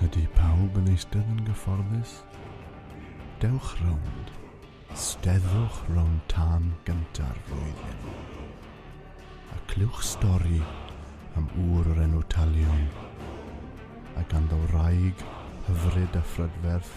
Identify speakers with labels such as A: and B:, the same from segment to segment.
A: Ydy pawb yn eistedd yn gyfforddus? Dewch rownd. Steddwch rownd tan gynta'r flwyddyn. A clywch stori am ŵr o'r enw Talion a ganddo wraig hyfryd a phrydferth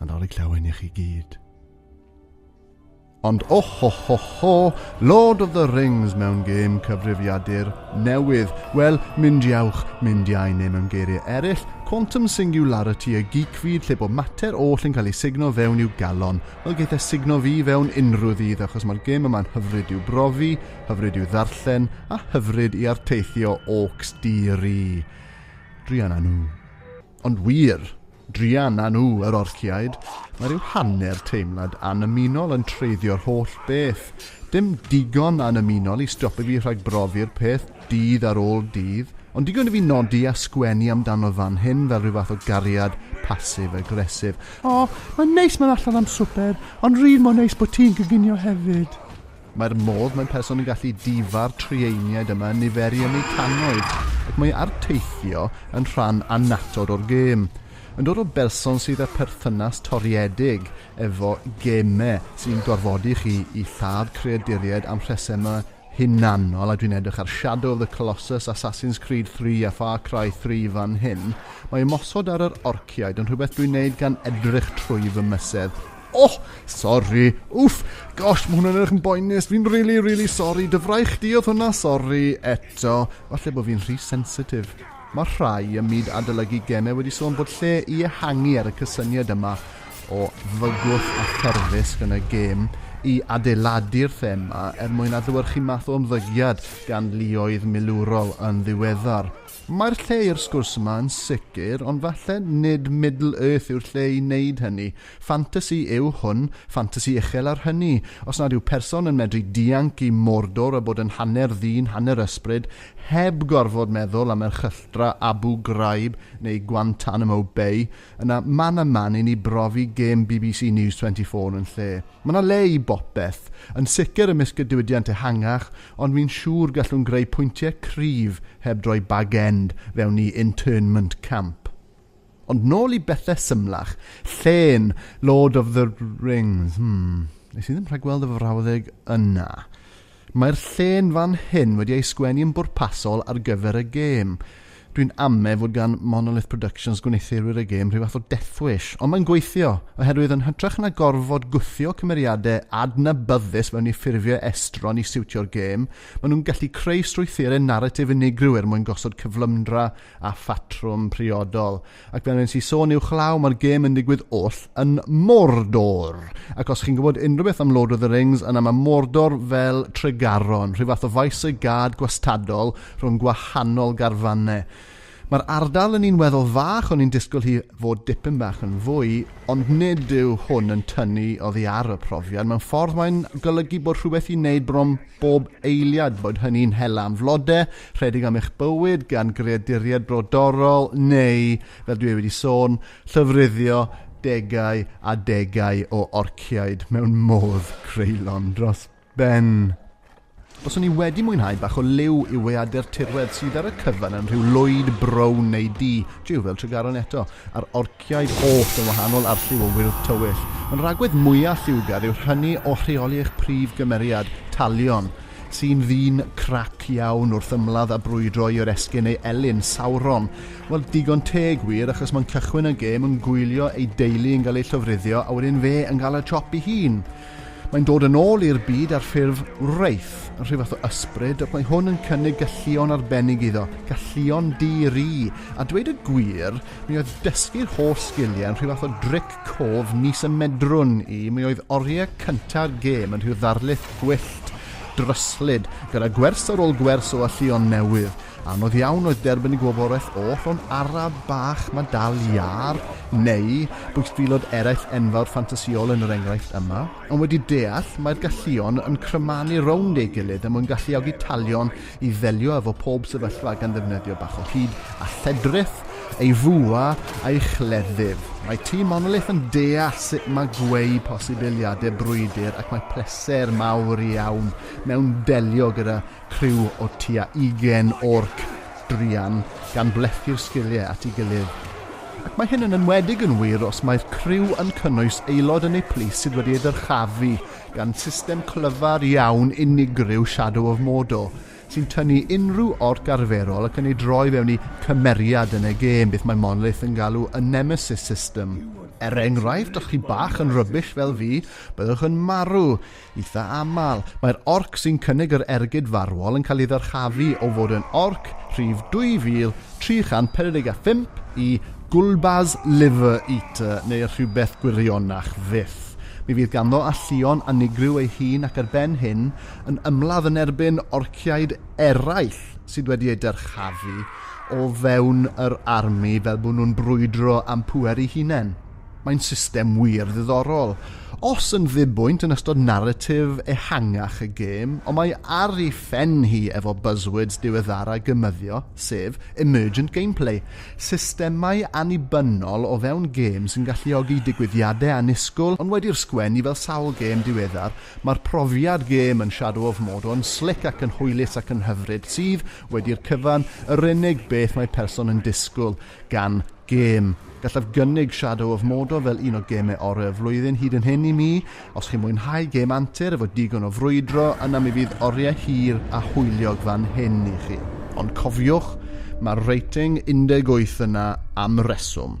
A: Nadolig llawen i chi gyd. Ond oh ho ho ho, Lord of the Rings mewn gêm cyfrifiadur newydd. Wel, mynd iawch, mynd iau neu mewn geiriau eraill, quantum singularity y geek fyd lle bod mater oll yn cael ei signo fewn i'w galon. Wel, geith e signo fi fewn unrhyw ddydd achos mae'r gêm yma'n hyfryd i'w brofi, hyfryd i'w ddarllen a hyfryd i arteithio orcs di-ri. Drian a nhw. Ond wir, druan â nhw, yr orciaid, mae rhyw hanner teimlad annymunol yn treiddio'r holl beth, dim digon annymunol i stopio fi rhag brofi'r peth dydd ar ôl dydd, ond digon i fi nodi a sgwennu amdano fan hyn fel rhyw fath o gariad passive-aggressive. O, mae'n neis mynd allan am swper, ond rydd mor neis bod ti'n coginio hefyd. Mae'r modd mae person yn gallu difa'r trieiniaid yma yn niferu yn eu cannoedd, ac mae arteithio yn rhan annatod o'r gêm. Yn dod o berson sydd â pherthynas toriedig efo gemau sy'n gorfodi chi i lladd creaduriaid am rhesemau hunanol, a dwi'n edrych ar Shadow of the Colossus, Assassin's Creed III a Far Cry III fan hyn, mae ymosod ar yr orciaid yn rhywbeth dwi'n neud gan edrych trwy fy mysedd. O! Sori! Wff! Gosh, ma' hwn yn edrych yn boenus! Fi'n rili, rili sori! Dy fraich di oedd hwnna! Sori! Eto! Falle bo' fi'n rhy sensitif. Ma' rhai ym myd adolygu gemau wedi sôn bod lle i ehangu ar y cysyniad yma o fygwth a therfysg yn y gêm i adeiladu'r thema er mwyn adlewyrchu math o ymddygiad gan luoedd milwrol yn ddiweddar. Mae'r lle i'r sgwrs yma yn sicr, ond falle nid Middle-earth yw'r lle i wneud hynny. Ffantasi yw hwn, ffantasi uchel ar hynny. Os nad yw person yn medru dianc i Mordor a bod yn hanner ddyn hanner ysbryd, heb gorfod meddwl am erchylltra Abu Ghraib neu Guantanamo Bay, yna man a man i ni brofi gêm bbc News 24 yn lle. Mae 'na le i bopeth. Yn sicr ymysg y diwydiant ehangach, ond fi'n siŵr gallwn greu pwyntiau cryf heb droi bag-end fewn i internment camp. Ond nôl i bethau symlach. Llên, Lord of the Rings. Hmm, nes i ddim rhagweld y frawddeg yna. Mae'r llên fan hyn wedi ei sgwennu yn bwrpasol ar gyfer y gêm. Dwi'n ame fod gan Monolith Productions gwneuthurwyr y gêm rhyw fath o death wish, ond mae'n gweithio, oherwydd yn hytrach na gorfod gwthio cymeriadau adnabyddus mewn i ffurfiau estron i siwtio'r gêm, maen nhw'n gallu creu strwythurau naratif unigryw er mwyn gosod cyflymdra a phatrwm priodol, ac fel nes i sôn uwchlaw, mae'r gêm yn digwydd oll yn Mordor. Ac os chi'n gwybod unrhyw beth am Lord of the Rings, yna mae Mordor fel Tregaron, rhyw fath o faes y gad gwastadol rhwng gwahanol garfannau. Mae'r ardal yn un weddol fach, o'n i'n disgwyl hi fod dipyn bach yn fwy, ond nid yw hwn yn tynnu oddi ar y profiad. Mewn ffordd mae'n golygu bod rhywbeth i wneud bron bob eiliad, bod hynny'n hela am flodau, rhedeg am eich bywyd gan greaduriaid brodorol neu, fel dwi wedi sôn, llyfruddio degau a degau o orciaid mewn modd creulon dros ben. Os o'n i wedi mwynhau bach o liw i weadu'r tirwedd sydd ar y cyfan yn rhyw lwyd brown neu du, jiw fel Tregaron eto, a'r orciaid Bynciau post yn wahanol ar lliw o wyrdd tywyll. Yn rhagwedd mwyaf lliwgar yw'r hynny o rheoli eich prif gymeriad, Talion, sy'n ddyn crac iawn wrth ymladd a brwydro i oresgyn ei elyn, Sauron. Wel, digon teg wir, achos mae'n cychwyn y gêm yn gwylio ei deulu yn cael eu llofruddio a wedyn fe yn cael y chop ei hun. Mae'n dod yn ôl i'r byd ar ffurf wraith, rhyw fath o ysbryd, ac mae hwn yn cynnig galluon arbennig iddo, galluon di-ri. A dweud y gwir, mi oedd dysgu'r holl sgiliau yn rhyw fath o dric cof nis y medrwn i, mi oedd oriau cynta'r gêm yn rhyw ddarlith gwyllt, dryslyd, gyda gwers ar ôl gwers o alluon newydd, Anodd iawn oedd derbyn gwybodaeth oll o'n araf bach ma dal iâr, neu bwystfilod eraill enfawr ffantasiol yn yr enghraifft yma, ond wedi deall mai'r galluon yn crymanu rownd ei gilydd er mwyn galluogi talion i ddelio efo pob sefyllfa gan ddefnyddio bach o hud a lledrith, ei fwa a'i chleddyf. Mae Tŷ Monolith yn deall sut mae gweu posibiliade brwydr ac mae pleser mawr iawn mewn delio gyda Criw o tua ugain o orc druan gan blethu'r sgiliau at ei gilydd. Ac mae hyn yn enwedig yn wir os mae'r criw yn cynnwys aelod yn eu plith sydd wedi ei ddyrchafu gan system clyfar iawn unigryw Shadow of Mordor, sy'n tynnu unrhyw orc arferol ac yn ei droi fewn i cymeriad yn y gêm, beth mae Monolith yn galw y Nemesis System. Er enghraifft, os chi bach yn rubbish fel fi, byddwch yn marw Eitha' aml, mae'r orc sy'n cynnig yr ergyd farwol yn cael ei ddyrchafu o fod yn orc rhif 2345 i Gulbaz Liver Eater neu rhywbeth gwirionach fyth. Mi fydd ganddo alluon unigryw ei hun ac ar ben hyn, yn ymladd yn erbyn orciaid eraill sydd wedi eu dyrchafu o fewn yr army fel bod nhw'n brwydro am pŵer eu hunain. Mae'n system wir ddiddorol. Os yn ddibwynt yn ystod naratif ehangach y gêm, ond mae ar ei phen hi efo buzzwords diweddara gymyddio, sef Emergent Gameplay, systemau annibynnol o fewn gêm sy'n galluogi digwyddiadau annisgwl, ond wedi'r sgwen i fel sawl gêm diweddar, mae'r profiad gêm yn Shadow of Mordor yn slic ac yn hwylus ac yn hyfryd, sydd, wedi'r cyfan, yr unig beth mae person yn disgwyl. Gan gêm. Gallaf gynnig Shadow of Mordor fel un o gemau orau y flwyddyn hyd yn hyn i mi. Os chi'n mwynhau gêm antur efo digon o frwydro, yna mi fydd oriau hir a hwyliog fan hyn i chi. Ond cofiwch, mae'r rating 18 yna am reswm.